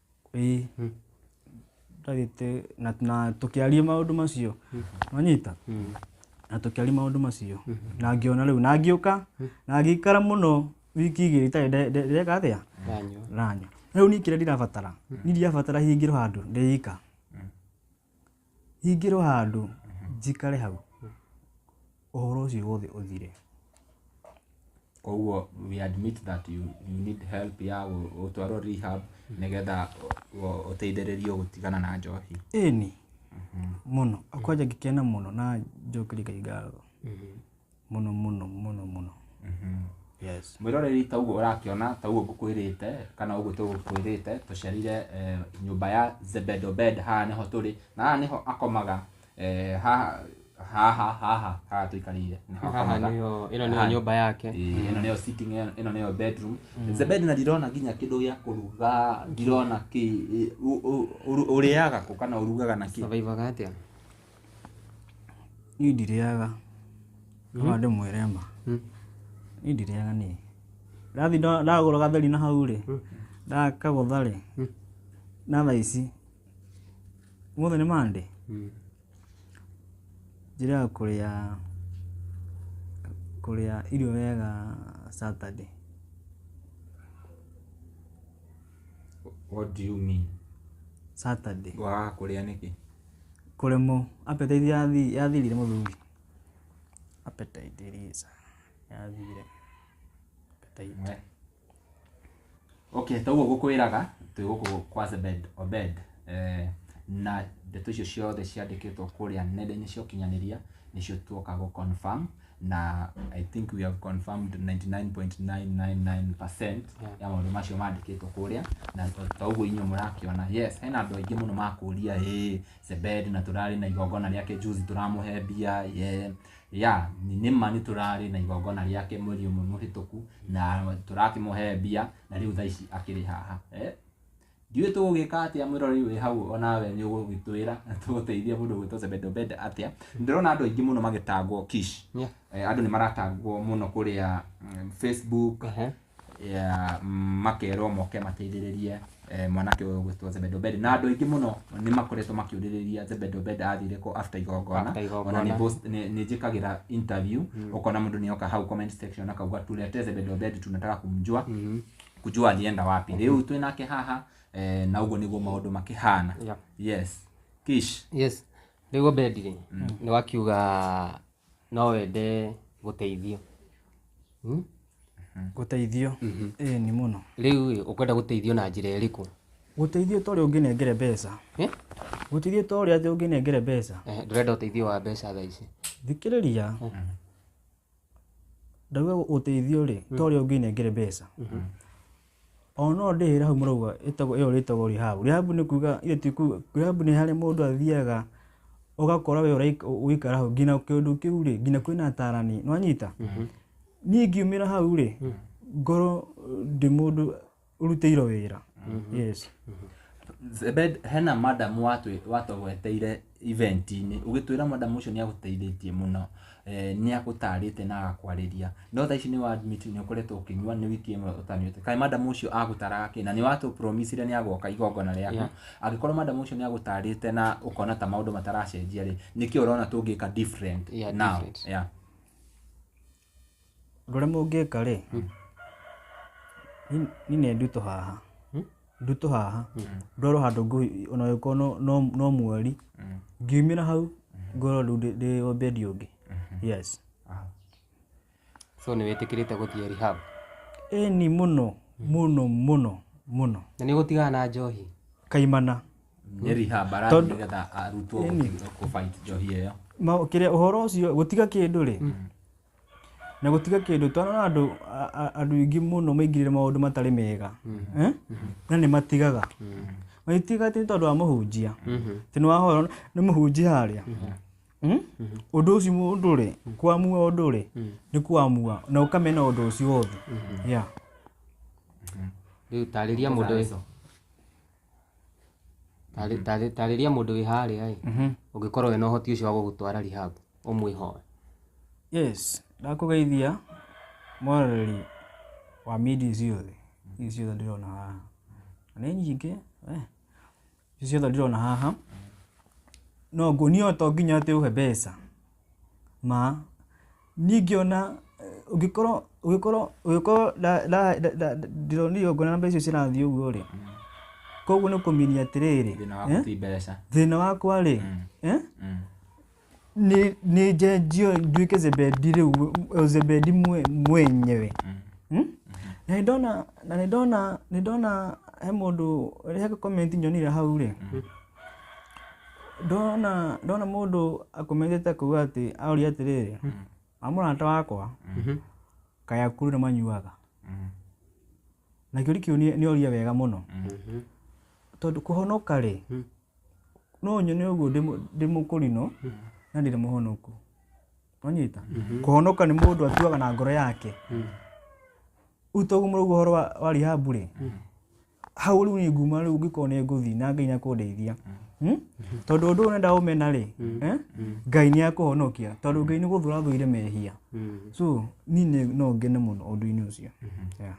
ĩĩ ndagĩte na, na tũkĩaria maũndũ macio manyita na tũkĩaria maũndũ macio na ngĩona rĩu na ngĩũka na ngĩikara mũno wiki igĩrĩ itarĩ nde- nde- ndeka atĩa Ndanyua. ranyua rĩu niĩ kĩrĩa ndirabatara niĩ ndirabatara hingĩrwo handũ ndĩika Hingĩrwo handũ njikare hau ũhoro ũcio wothe ũthire. Koguo we admit that you, you need help ya gũ- gũtwarwo rehab nĩgetha ũ- ũteithĩrĩrio gũtigana na njohi. Ĩni mũno kwanja ngĩkena mũno na njokerie Ngai ngatho. mũno mũno mũno mũno yes mwĩroreri taguo ũrakĩona taguo ngũkwĩrĩte kana ũguo tũgũkwĩrĩte tũcerire eh, nyũmba ya zebedobed haha nĩho tũrĩ na haha nĩho akomaga eh, haha haha haha haha tũikarĩire nĩho haha akomaga. nĩyo ĩno nĩyo Haha. nyũmba yake Ĩĩ, ĩno nĩyo sitting ĩno- ĩno nĩyo bedroom zebed na ndirona nginya kĩndũ gĩa kũruga ndirona kĩ ĩ- ũ- ũ- ũrĩaga kũ kana ũrugaga na kĩ survivaga atĩa Niĩ ndirĩaga no ndĩmwĩre ma niĩ ndirĩaga niĩ ndathi ndo- ndagũra gatheri na hau rĩ ndakagũtha rĩ na thaa ici ũmũthĩ nĩ mande njĩrĩga kũrĩa kũrĩa irio wega Saturday What do you mean? Saturday Waga kũrĩa nĩkĩ? Kũremwo, appetite yathirire mũthuri. Appetite ĩrĩte, yathirire. Appetite. Okay, ta ũguo ngũkwĩraga twĩ gũkũ kwa Zebed Obed eh, na ndeto icio ciothe ciandĩkĩtwo kũrĩa nenda-inĩ cia ũkinyanĩria nĩcio tuoka gũ confirm na i think we have confirmed 99.999% ya maũndũ macio mandĩkĩtwo kũrĩa na to- ta ũguo inyuĩ mũrakĩona yes hena andũ aingĩ mũno makũria ĩ sebed na tũrarĩ na igongona rĩake juzi tũramũhe mbia ye ya nĩma nĩ tũrarĩ na igongona rĩake mweri ũmwe mũhĩtũku na tũrakĩmũhe mbia na rĩu thaa ici akĩrĩ haha eh? Ndiũĩ tũgũgĩka atĩa mwĩroreri wĩ hau onawe nĩ ũgũgĩtwĩra na tũgũteithie mũndũ gwĩtwo Zebed Obed atĩa. Ndĩrona andũ aingĩ mũno magĩtangwo Kish. Yeah. Eh, andũ nĩ maratangwo mũno kũrĩa mm, Facebook Ehe. yeah, makerwo moke mateithĩrĩrie eh, mwanake ũyũ gwĩtwo Zebed Obed na andũ aingĩ mũno nĩ makoretwo makĩũrĩrĩria Zebed Obed athire kũ after igongona After igongona. ona nĩ post- nĩ nĩ njĩkagĩra interview ũkona mũndũ nĩ oka hau comment section akauga tulete Zebed Obed tunataka kumjua kujua alienda wapi rĩu twĩ nake haha eh, na ũguo nĩguo maũndũ makĩhana Yeah. yes kish yes rĩu obedi rĩ nĩ wakiuga no wende gũteithio Hmm? gũteithio ĩĩ nĩ mũno rĩu ĩ, ũkwenda gũteithio na njĩra ĩrĩkũ gũteithio ta ũrĩa ũngĩnengere mbeca Eh? gũteithio ta ũrĩa atĩ ũngĩnengere mbeca Eh, ndũrenda ũteithio wa mbeca thaa ici thikĩrĩria ndauga ũteithio rĩ to ũrĩa ũngĩnengere mbeca o no ndĩhĩra hau mũrauga ĩtagwo ĩyo rĩtagwo rehab rehab nĩ kuga ithe ti kuga rehab nĩ harĩa mũndũ athiaga ũgakora we ũraik- ũ- ũikara hau nginya kĩndũ kĩu rĩ nginya kwĩna atarani nĩwanyita niĩ ngiumĩra hau rĩ ngorwo ndĩ mũndũ ũrutĩirwo wĩra yes Zebed, hena madam watwĩ- watũgweteire event-inĩ ũgĩtwĩra madam ũcio nĩ agũteithĩtie mũno eh, nĩ agũtarĩte na agakwarĩria no thaa ici nĩ wa admit nĩ ũkoretwo ũkĩnyua nĩ wiki ĩmwe ũtanyuĩte kaĩ madam ũcio agũtaraga kĩ na nĩ watũ promisire nĩ agoka igongona rĩaku Yeah. angĩkorwo madam ũcio nĩ agũtarĩte na ũkona ta maũndũ mataracenjia rĩ nĩkĩ ũrona tũngĩka different Yeah, now different. yeah. Ũndũ ũrĩa mũngĩka rĩ, ni- ni nĩ ndutũ haha ndutũ haha ndorwo handũ ngũhi ona ũngĩkorwo no- no- no mweri ngiumĩra hau ngorwo rĩu ndĩ- ndĩ o bendi ũngĩ yes so nĩ wĩtĩkĩrĩte gũthiĩ rehab ĩni mũno mũno mũno mũno na nĩ ũgũtigana na njohi kaimana nĩ rehab arathiĩ Tondũ- nĩgetha arutwo Ĩni. gũkinya kũfight njohi ĩyo ma kĩrĩa ũhoro ũcio gũtiga kĩndũ rĩ na gũtiga kĩndũ twana na andũ a- a- andũ aingĩ mũno maingĩrĩre maũndũ matarĩ mega Eh? na nĩ matigaga magĩtiga atĩ nĩ tondũ wa mũhunjia tĩ nĩ wahoro nĩ mũhunjia harĩa Mm? ũndũ ũcio mũndũ rĩ kwamua ũndũ rĩ nĩ kwamua na ũkamena ũndũ ũcio wothe Yeah. rĩu tarĩria mũndũ ũyũ Tarĩ- tarĩ- tarĩria mũndũ wĩ harĩa ĩ Mhm. ũngĩkorwo wĩna ũhoti ũcio wa gũgũtwara rehab ũmwĩhoe yes ndakũgeithia mwaroreri wa media ici ciothe ici ciothe ndĩrona haha Na nĩ nyingĩ eh, ici ciothe ndĩrona haha no nguonia to nginya atĩ ũhe mbeca ma, niĩ ingĩona ũngĩkorwo ũngĩkorwo ũngĩkorwo ndĩronire ũguo na mbeca icio cirathiĩ ũguo rĩ, koguo nĩ kũminia atĩrĩrĩ, Thĩna waku eh, ti mbeca. thĩna wakwa rĩ, eh, Mm. nĩ nĩ njenjio nduĩke zebedi rĩu mwe- zebedi mwe- mwenyewe Hmm? na nĩ ndona na nĩ ndona nĩ ndona he mũndũ he comment nyonire hau rĩ ndona ndona mũndũ akometete kũu atĩ aũria atĩrĩrĩ wa mũrata wakwa kaya kuru nĩ manyuaga na kĩũri kĩu nĩ nĩ oria wega mũno tondũ kũhonoka rĩ no nyone ũguo ndĩ mũ- ndĩ mũkũrinũ na ndirĩ mũhonoku wanyita kũhonoka nĩ mũndũ atuaga na ngoro yake rĩu toguo mũrauga ũhoro wa- wa rihabu rĩ hau rĩu nĩ nguma rĩu ngĩkorwo nĩ ngũthiĩ na ngai nĩ akũndeithia Hmm? tondũ ũndũ ũyũ nenda ũmena rĩ eh? ngai nĩ akũhonokia tondũ ngai nĩ gũthũra thũire mehia so niĩ nĩ- no ngene mũno ũndũ-inĩ ũcio Yeah.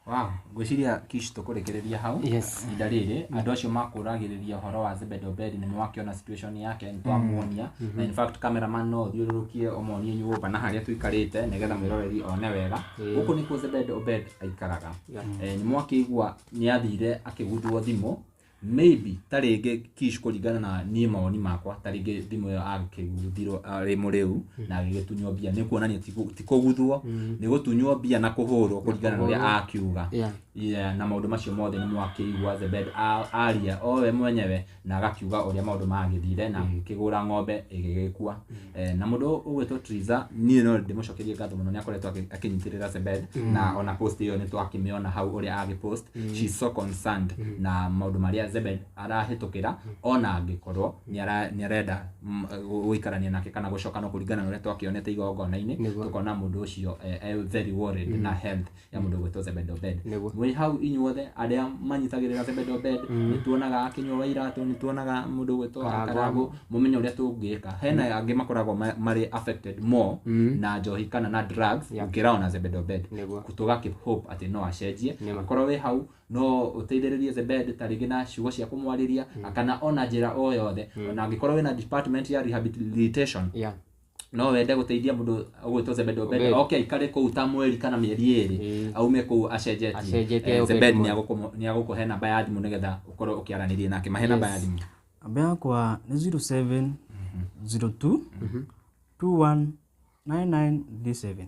Wow, ngwĩciria kish tũkũrĩkĩrĩria hau Yes. ihinda rĩrĩ andũ acio makũragĩrĩria ũhoro wa Zebed Obed nĩ makĩona situation yake nĩ twamuonia na in fact cameraman no ũthiũrũrũkie ũmonie nyũmba na harĩa tũikarĩte nĩgetha mwĩroreri one wega gũkũ nĩkuo Zebed Obed aikaraga Eh, nĩ mwakĩigua nĩ athire akĩgundwo thimũ maybe ta rĩngĩ kish kũringana na niĩ mawoni makwa ta rĩngĩ thimũ ĩyo agĩkĩgundhirwo arĩ mũrĩu na agĩgĩtunywo mbia nĩ kuonania ti kũ- ti kũguthwo nĩ gũtunywo mbia na kũhũrwo kũringana na ũrĩa kũhũrwo. akiuga Yeah. Yeah, na maũndũ macio mothe nĩ mwakĩigua the bed a- aria o we mwenyewe na agakiuga ũrĩa maũndũ magĩthire na akĩgũra ng'ombe ĩgĩgĩkua Eh, na mũndũ ũgwĩtwo Triza niĩ no ndĩmũcokerie ngatho mũno nĩ akoretwo akĩ- akĩnyitĩrĩra Sebed na ona post ĩyo nĩ twakĩmĩona hau ũrĩa agĩ post she is so concerned na maũndũ marĩa Zebed arahĩtũkĩra ona angĩkorwo nĩ ara- nĩ arenda mm, gũ- gũikarania nake kana gũcokana kũringana na ũrĩa twakĩonete igongona-inĩ Nĩguo. tukona mũndũ ũcio eh, eh, very worried na health ya mũndũ gwĩtwo Zebedo Bed Nĩguo. mwĩ hau inyuothe arĩa manyitagĩrĩra Zebedo Bed nĩ tuonaga akĩnyua wa iratũ nĩ tuonaga mũndũ gwĩtwo Karangũ. Karangũ mũmenye ũrĩa tũngĩka hena angĩ makoragwo ma- marĩ affected more na njohi kana na drugs Yeah. gũkĩra ona Zebedo Bed Nĩguo. tũga keep hope atĩ no acenjie Nĩma. akorwo wĩ hau no ũteithĩrĩrie Zebed ta rĩngĩ na ciugo cia kũmwarĩria kana ona njĩra o yothe ona angĩkorwo wĩna department ya rehabilitation Yeah. no wende gũteithia mũndũ ũgwĩtwo Zebedi Obedi Obedi. oke aikare kũu ta mweri kana mĩeri ĩrĩ Ĩĩ. aume kũu acenjetie Acenjetie Eh, Obedi Zebedi mwa- nĩagũkũ- nĩagũkũhe namba ya thimũ nĩgetha ũkorwo ũkĩaranĩria nake mahe namba ya thimũ namba yakwa nĩ 07 02 21 9937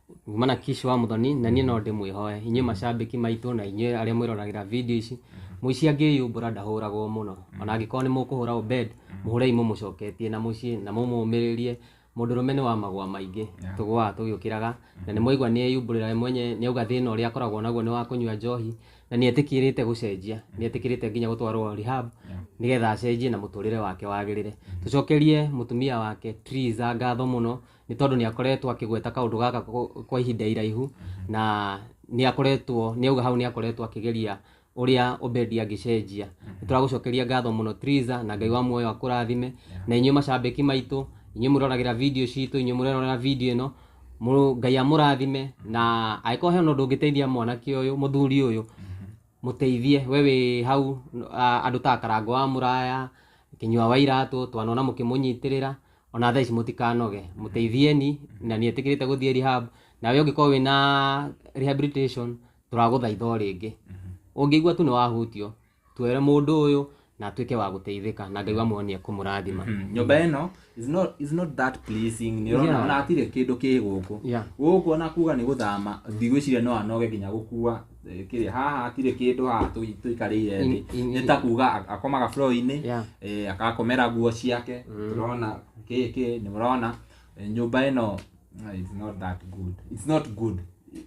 kumana kishi wa muthoni na niĩ no ndĩmwĩhoe inyuĩ macambĩki maitũ na inyuĩ arĩa mwĩroragĩra video ici mũici angĩyumbũra ndahũragwo mũno ona angĩkorwo nĩ mũkũhũra obed mũhũrei mũmũcoketie na mũciĩ na mũmũmĩrĩrie mũndũ rũme nĩ wa magwa maingĩ tũgũaga tũgĩũkĩraga na nĩ mwaigua nĩ eyumbũrĩra we mwenye nĩ auga thĩna ũrĩa akoragwo naguo nĩ wa kũnyua njohi na nĩ etĩkĩrĩte gũcenjia nĩ etĩkĩrĩte nginya gũtwarwo rehab nĩgetha acenjie na mũtũrĩre wake wagĩrĩre tũcokerie mũtumia wake Triza ngatho mũno nĩ tondũ nĩ akoretwo akĩgweta kaũndũ gaka kwa- kwa ihinda iraihu na nĩ akoretwo nĩ auga hau nĩ akoretwo akĩgeria ũrĩa Obedi angĩcenjia nĩ tũragũcokeria ngatho mũno Triza na Ngai wa muoyo akũrathime na inyuĩ macambĩki maitũ inyuĩ mũroragĩra video citũ inyuĩ mũroragĩra video ĩno Mũ- Ngai amũrathime na angĩkorwo hena ũndũ ũngĩteithia mwanake ũyũ mũthuri ũyũ mũteithie we wĩ hau a- andũ ta karango wa mũraya kinyua wa iratũ twanona mũkĩmũnyitĩrĩra ona thaa ici mũtikanoge mũteithieni na nĩ etĩkĩrĩte gũthiĩ rehab nawe ũngĩkorwo wĩna rehabilitation tũragũthaitha o rĩngĩ ũngĩigua tu nĩ wahutio twere mũndũ ũyũ na atuĩke wa gũteithĩka na ngai wa muoyo nĩ ekũmũrathima nyũmba ĩno is not, is not that pleasing nĩ Yeah. ũrona ona hatirĩ kĩndũ kĩ gũkũ Yeah. gũkũ ona kuga nĩ gũthama ndigwĩciria no anoge nginya gũkua eh, kĩrĩa haha hatirĩ kĩndũ haha tũi- tũikarĩire thĩ In- in- nĩ ta kuga ak- akomaga floor-inĩ Yeah. eh, akakomera nguo ciake tũrona kĩkĩ nĩ mũrona eh, nyũmba ĩno eh, it's not that good it's not good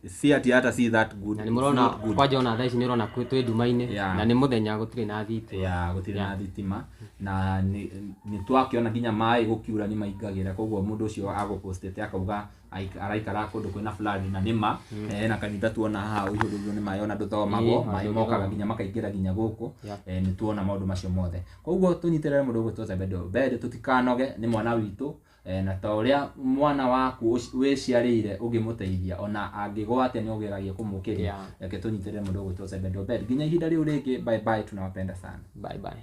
si ati hata si that good na nĩ It's mũrona not good. kwanja ona thaa ici nĩ ũrona kwĩ- twĩ nduma-inĩ Yeah. na nĩ mũthenya gũtirĩ na thitima ya gũtirĩ na thitima na nĩ nĩ twakĩona nginya maĩ gũkiura nĩ maingagĩra koguo mũndũ ũcio agũpostete akauga Aik- araikara kũndũ kwĩna flood na nĩma eh, na kanitha tuona haha ũihũrĩirio nĩ maĩ ona ndũthomagwo Ĩĩ, maĩ mokaga ndũthomagwo. nginya makaingĩra nginya gũkũ Yeah. eh, nĩ tuona maũndũ macio mothe koguo tũnyitĩrĩre mũndũ ũgwĩtwo zebedo mbere tũtikanoge nĩ mwana witũ eh, na ta ũrĩa mwana waku ũci- wĩciarĩire ũngĩmũteithia ona angĩgwa atĩa nĩ ũgeragia kũmũkĩria Yeah. reke tũnyitĩrĩre mũndũ ũgwĩtwo zebedo mbere nginya ihinda rĩu rĩngĩ bye bye tunawapenda sana bye bye